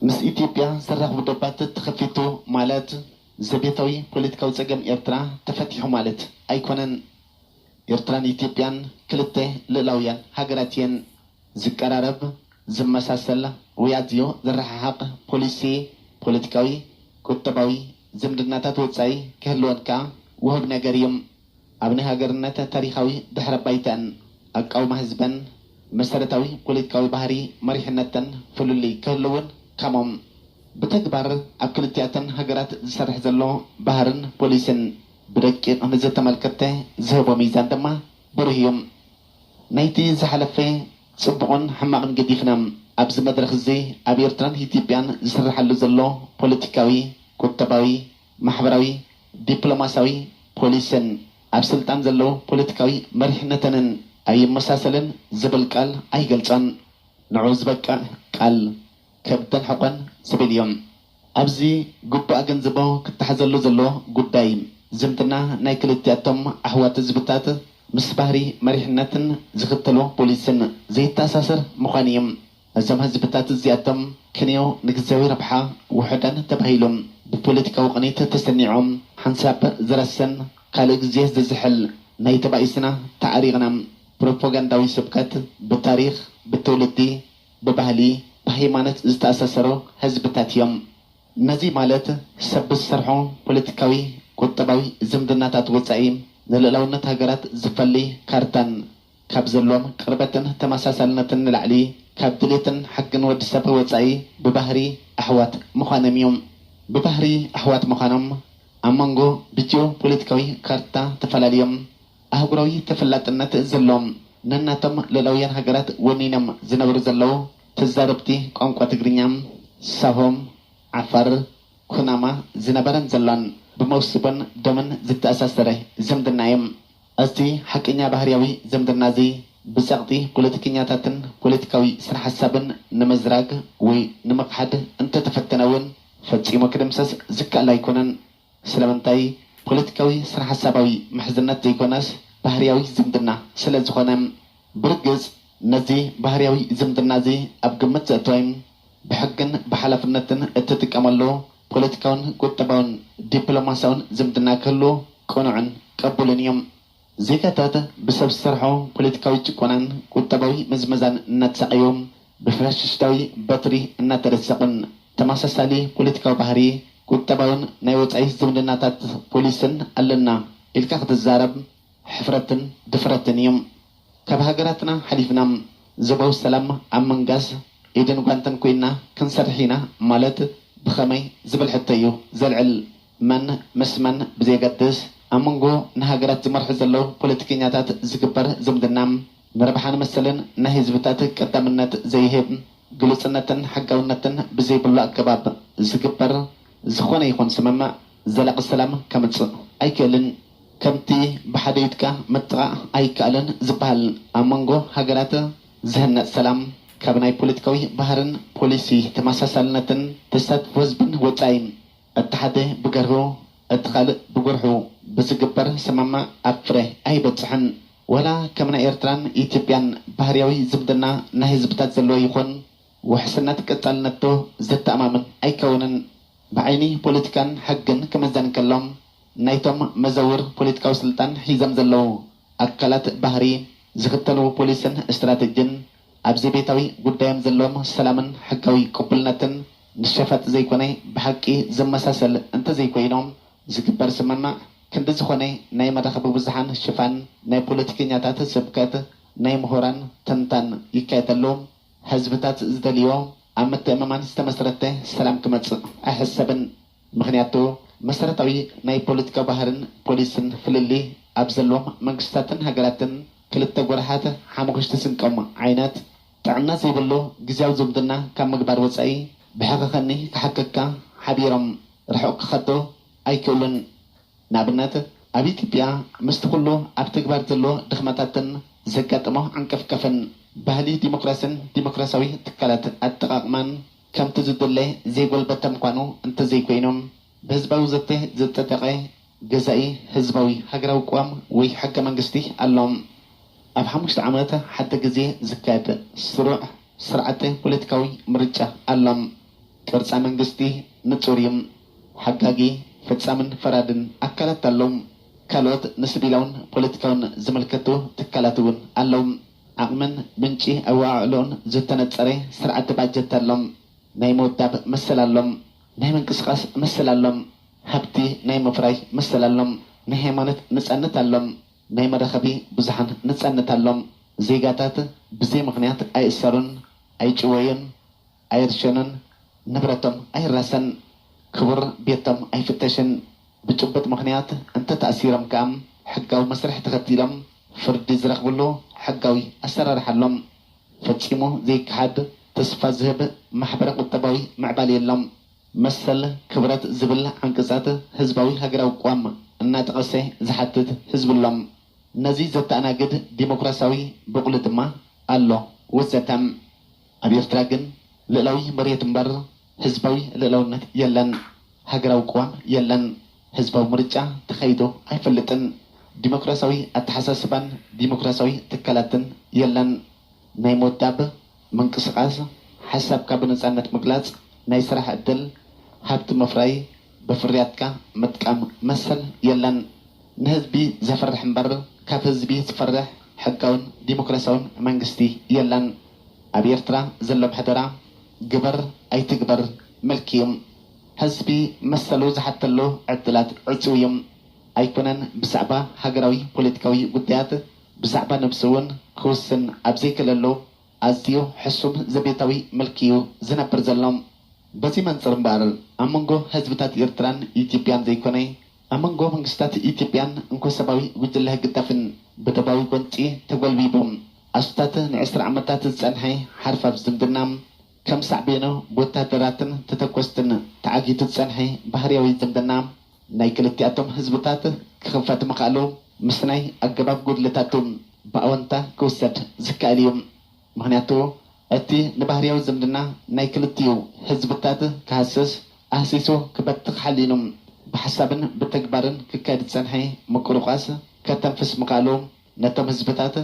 ምስ ኢትዮጵያ ዘራኽቡ ደባት ተኸፊቱ ማለት ዘቤታዊ ፖለቲካዊ ጸገም ኤርትራ ተፈቲሑ ማለት ኣይኮነን። ኤርትራን ኢትዮጵያን ክልተ ልእላውያን ሃገራት እየን። ዝቀራረብ፣ ዝመሳሰል ወይ ኣዝዩ ዝረሓሓቕ ፖሊሲ፣ ፖለቲካዊ፣ ቁጠባዊ፣ ዝምድናታት ወጻኢ ክህልወን ከኣ ውሁብ ነገር እዩ። ኣብ ናይ ሃገርነት ታሪኻዊ ድሕረ ባይተኣን፣ ኣቃውማ ህዝበን፣ መሰረታዊ ፖለቲካዊ ባህሪ መሪሕነተን ፍልልይ ክህልውን ከምኡም ብተግባር ኣብ ክልቲኣተን ሃገራት ዝሰርሕ ዘሎ ባህርን ፖሊሲን ብደቂቕ ንዘተመልከተ ዝህቦ ሚዛን ድማ ብሩህ እዩ። ናይቲ ዝሓለፈ ጽቡቕን ሕማቕን ገዲፍና፣ ኣብዚ መድረኽዚ ኣብ ኤርትራን ኢትዮጵያን ዝስርሓሉ ዘሎ ፖለቲካዊ፣ ቁጠባዊ፣ ማሕበራዊ፣ ዲፕሎማሲያዊ ፖሊሲን ኣብ ስልጣን ዘለዉ ፖለቲካዊ መሪሕነተንን ኣይመሳሰልን ዝብል ቃል ኣይገልጾን። ንዕኡ ዝበቅዕ ቃል ከብደን ሕቆን ዝብል እዩ። ኣብዚ ግቡእ ኣገንዝቦ ክተሓዘሉ ዘለዎ ጉዳይ፣ ዝምድና ናይ ክልቲኣቶም ኣሕዋት ህዝብታት ምስ ባህሪ መሪሕነትን ዝኽተልዎ ፖሊሲን ዘይተኣሳሰር ምዃኑ እዩ። ነዞም ህዝብታት እዚኣቶም ክንዮ ንግዝያዊ ረብሓ ውሑዳን ተባሂሎም ብፖለቲካዊ ቅኒት ተሰኒዖም ሓንሳብ ዝረሰን ካልእ ግዜ ዝዝሕል ናይ ተባኢስና ተዓሪቕና ፕሮፖጋንዳዊ ስብከት ብታሪኽ ብትውልዲ ብባህሊ ብሃይማኖት ዝተኣሳሰሩ ህዝብታት እዮም። ነዚ ማለት ሰብ ብዝሰርሖ ፖለቲካዊ ቁጠባዊ ዝምድናታት ወጻኢ ንልእላውነት ሃገራት ዝፈሊ ካርታን ካብ ዘሎዎም ቅርበትን ተመሳሳልነትን ንላዕሊ፣ ካብ ድሌትን ሓግን ወዲ ሰብ ብወጻኢ ብባህሪ ኣሕዋት ምዃኖም እዩ። ብባህሪ ኣሕዋት ምዃኖም፣ ኣብ መንጎ ብጂኦ-ፖለቲካዊ ካርታ ተፈላልዮም፣ ኣህጉራዊ ተፈላጥነት ዘሎዎም፣ ነናቶም ልኡላውያን ሃገራት ወኒኖም ዝነብሩ ዘለዉ ተዛረብቲ ቋንቋ ትግርኛ፣ ሳሆ፣ ዓፋር፣ ኩናማ፣ ዝነበረን ዘሎን ብመውስቦን ደምን ዝተኣሳሰረ ዝምድና እዩ። ኣዚ ሓቀኛ ባህርያዊ ዘምድና'ዚ፣ ብጸቕጢ ፖለቲከኛታትን ፖለቲካዊ ስነሓሳብን ንምዝራግ ወይ ንምኽሓድ እንተተፈተነ ውን ፈጺሙ ክድምሰስ ዝከኣል ኣይኮነን። ስለምንታይ? ፖለቲካዊ ስነሓሳባዊ ምሕዝነት ዘይኮነስ ባህርያዊ ዝምድና ስለዝኾነ። ብርግጽ ነዚ ባህርያዊ ዝምድና'ዚ ኣብ ግምት ዘእተወ፣ ብሕግን ብሓላፍነትን እትጥቀመሉ፣ ፖለቲካውን ቁጠባውን ዲፕሎማስያውን ዝምድና ክህሉ ቅኑዕን ቅቡልን እዩ። ዜጋታት ብሰብ ዝሰርሖ ፖለቲካዊ ጭቆናን ቁጠባዊ ምዝመዛን እናተሳቐዩ፣ ብፋሽሽታዊ በትሪ እናተደሰቑን ተመሳሳሊ ፖለቲካዊ ባህሪ፣ ቁጠባውን ናይ ወጻኢ ዝምድናታት ፖሊስን ኣለና ኢልካ ክትዛረብ ሕፍረትን ድፍረትን እዩ። ካብ ሃገራትና ሓሊፍና ዞባዊ ሰላም ኣብ ምንጋስ ኢድን ጓንትን ኮይንና ክንሰርሕ ኢና ማለት ብኸመይ ዝብል ሕቶ'ዩ ዘልዕል። መን ምስ መን ብዘየገድስ፣ ኣብ መንጎ ንሃገራት ዝመርሑ ዘለዉ ፖለቲከኛታት ዝግበር ዝምድና፣ ንረብሓን መሰልን ናይ ህዝብታት ቀዳምነት ዘይህብ፣ ግሉጽነትን ሕጋውነትን ብዘይብሉ ኣገባብ ዝግበር ዝኾነ ይኹን ስምምዕ፣ ዘላቂ ሰላም ከምጽእ ኣይክእልን፣ ከምቲ ብሓደ ኢድካ ምጥቓእ ኣይከኣልን ዝበሃል፣ ኣብ መንጎ ሃገራት ዝህነጽ ሰላም፣ ካብ ናይ ፖለቲካዊ ባህርን ፖሊሲ ተመሳሳልነትን ተሳትፎ ህዝብን ወጻኢ፣ እቲ ሓደ ብገርሁ እቲ ካልእ ብጉርሑ ብዝግበር ስምምዕ ኣብ ፍረ ኣይበጽሕን። ዋላ ከም ናይ ኤርትራን ኢትዮጵያን ባህርያዊ ዝምድና ናይ ህዝብታት ዘለዎ ይኹን፣ ውሕስነት ቀጻልነትዶ ዘተኣማምን ኣይከውንን? ብዓይኒ ፖለቲካን ሕግን ክምዘን እንከሎ፣ ናይቶም መዘውር ፖለቲካዊ ስልጣን ሒዞም ዘለዉ ኣካላት ባህሪ፣ ዝኽተልዎ ፖሊስን ስትራተጂን፣ ኣብ ዘቤታዊ ጉዳዮም ዘለዎም ሰላምን ሕጋዊ ቅቡልነትን ንሸፋጥ ዘይኮነ ብሓቂ ዝመሳሰል እንተዘይኮይኑ፣ ዝግበር ስምምዕ ክንዲ ዝኾነ ናይ መራኸቢ ብዙሓን ሽፋን፣ ናይ ፖለቲከኛታት ስብከት፣ ናይ ምሁራን ትንታን ይካየደሉ። ህዝብታት ዝደልይዎ ኣብ ምትእምማን ዝተመስረተ ሰላም ክመጽእ ኣይሕሰብን። ምኽንያቱ መሰረታዊ ናይ ፖለቲካ ባህርን ፖሊስን ፍልልይ ኣብ ዘለዎም መንግስታትን ሃገራትን ክልተ ጎራሓት ሓሙኽሽቲ ስንቆም ዓይነት ጥዕና ዘይብሉ ግዝያዊ ዝምድና ካብ ምግባር ወጻኢ ብሕኸኸኒ ክሓከካ ሓቢሮም ርሑቕ ክኸዱ ኣይክእሉን። ንኣብነት ኣብ ኢትዮጵያ ምስቲ ኩሉ ኣብ ተግባር ዘሎ ድኽመታትን ዘጋጠሞ ዓንቀፍቀፍን፣ ባህሊ ዲሞክራሲን ዲሞክራሲያዊ ትካላት ኣጠቓቕማን ከምቲ ዝድለ ዘይጎልበተ ምዃኑ እንተዘይኮይኑ፣ ብህዝባዊ ዘተ ዝጸደቐ ገዛኢ ህዝባዊ ሃገራዊ ቅዋም ወይ ሕገ መንግስቲ ኣሎ። ኣብ ሓሙሽተ ዓመት ሓደ ግዜ ዝካየድ ስሩዕ ስርዓተ ፖለቲካዊ ምርጫ ኣሎ። ቅርጻ መንግስቲ ንጹር እዩ። ሓጋጊ፣ ፈጻምን ፈራድን ኣካላት ኣሎዉ። ካልኦት ንስቪላውን ፖለቲካውን ዝምልከቱ ትካላት እውን ኣሎዉ። ዓቕምን ምንጪ ኣወዓዕሎኡን ዝተነጸረ ስርዓተ ባጀት ኣሎ። ናይ ምውዳብ መሰል ኣሎ። ናይ ምንቅስቓስ መሰል ኣሎ። ሃብቲ ናይ ምፍራይ መሰል ኣሎ። ናይ ሃይማኖት ነጻነት ኣሎ። ናይ መራኸቢ ብዙሓን ነጻነት ኣሎ። ዜጋታት ብዘይ ምኽንያት ኣይእሰሩን፣ ኣይጭወዩን። ኣይርሸኑን ንብረቶም ኣይራሰን ክቡር ቤቶም ኣይፍተሽን ብጭቡጥ ምኽንያት እንተተኣሲሮም ከኣ ሕጋዊ መስርሕ ተኸቲሎም ፍርዲ ዝረኽብሉ ሕጋዊ ኣሰራርሓ ኣሎ ፈጺሙ ዘይከሓድ ተስፋ ዝህብ ማሕበረ ቁጠባዊ ምዕባለ የሎ መሰል ክብረት ዝብል ዓንቀጻት ህዝባዊ ሃገራዊ ቅዋም እናጠቐሰ ዝሓትት ህዝቢ ኣሎ ነዚ ዘተኣናግድ ዲሞክራሲያዊ ቦቕሊ ድማ ኣሎ ወዘተ። ኣብ ኤርትራ ግን ልእላዊ መሬት እምበር ህዝባዊ ልእላውነት የለን፣ ሃገራዊ ቅዋም የለን፣ ህዝባዊ ምርጫ ተኻይዱ ኣይፈልጥን፣ ዲሞክራሲያዊ ኣተሓሳስባን ዲሞክራሲያዊ ትካላትን የለን፣ ናይ ምውዳብ፣ ምንቅስቓስ፣ ሓሳብካ ብነጻነት ምግላጽ፣ ናይ ስራሕ ዕድል፣ ሃብቲ ምፍራይ፣ ብፍርያትካ ምጥቃም መሰል የለን። ንህዝቢ ዘፍርሕ እምበር ካብ ህዝቢ ዝፈርሕ ሕጋውን ዲሞክራሲያውን መንግስቲ የለን። ኣብ ኤርትራ ዘሎ ምሕደራ ግበር ኣይትግበር ምልኪ እዩ። ህዝቢ መሰሉ ዝሓተሉ ዕድላት ዕጽው እዩ። ኣይኮነን ብዛዕባ ሃገራዊ ፖለቲካዊ ጉዳያት ብዛዕባ ነብሱ እውን ክውስን ኣብ ዘይክእለሉ፣ ኣዝዩ ሕሱም ዘቤታዊ ምልኪ'ዩ ዝነብር ዘሎ። በዚ መንጽር እምበኣር፣ ኣብ መንጎ ህዝብታት ኤርትራን ኢትዮጵያን ዘይኮነ፣ ኣብ መንጎ መንግስታት ኢትዮጵያን እንኮ-ሰባዊ ጉጅለ ህግዳፍን ብደባዊ ጎንጺ ተጎልቢቡ ኣስታት ንዕስራ ዓመታት ዝጸንሐ ሓርፋፍ ዝምድና፣ ከም ሳዕቤኑ ብወተሃደራትን ተተኮስትን ተዓጊቱ ዝጸንሐ ባህርያዊ ዝምድና፣ ናይ ክልቲኣቶም ህዝብታት ክኽፈት ምኽኣሉ ምስናይ ኣገባብ ጉድለታቱ ብኣወንታ ክውሰድ ዝከኣል ኢዩ። ምኽንያቱ እቲ ንባህርያዊ ዝምድና ናይ ክልቲኡ ህዝብታት ክሃስስ፣ ኣህሲሱ ክበትኽ ሓሊኑ ብሓሳብን ብተግባርን ክካየድ ዝጸንሐ ምቁርቋስ ከተንፍስ ምኽኣሉ ነቶም ህዝብታት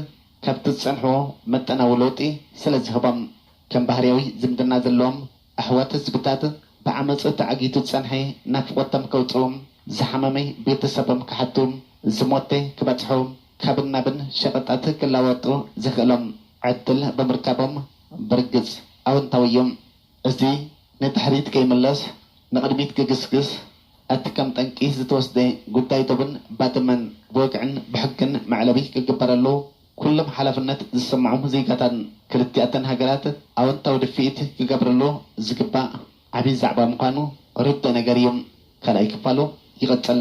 ካብቲ ዝጸንሕዎ መጠናዊ ለውጢ ስለዝህቦም ከም ባህርያዊ ዝምድና ዘለዎም ኣሕዋት ህዝብታት ብዓመጽ ተዓጊቱ ዝጸንሐ ናፍቆቶም ከውጽኡ ዝሓመመ ቤተሰቦም ክሓቱ ዝሞተ ክበጽሑ ካብን ናብን ሸቀጣት ክለዋወጡ ዘኽእሎም ዕድል ብምርካቦም ብርግጽ ኣወንታዊ እዩ። እዚ ንድሕሪት ከይምለስ ንቅድሚት ክግስግስ እቲ ከም ጠንቂ ዝተወስደ ጉዳይ ዶብን ባድመን ብወግዕን ብሕግን መዕለቢ ክግበረሉ፣ ኩሎም ሓላፍነት ዝስምዖም ዜጋታት ክልቲኣተን ሃገራት ኣወንታዊ ድፍኢት ክገብርሉ ዝግባእ ዓብዪ ዛዕባ ምዃኑ ርዱእ ነገር እዩ። ካልኣይ ክፋሉ ይቕፅል።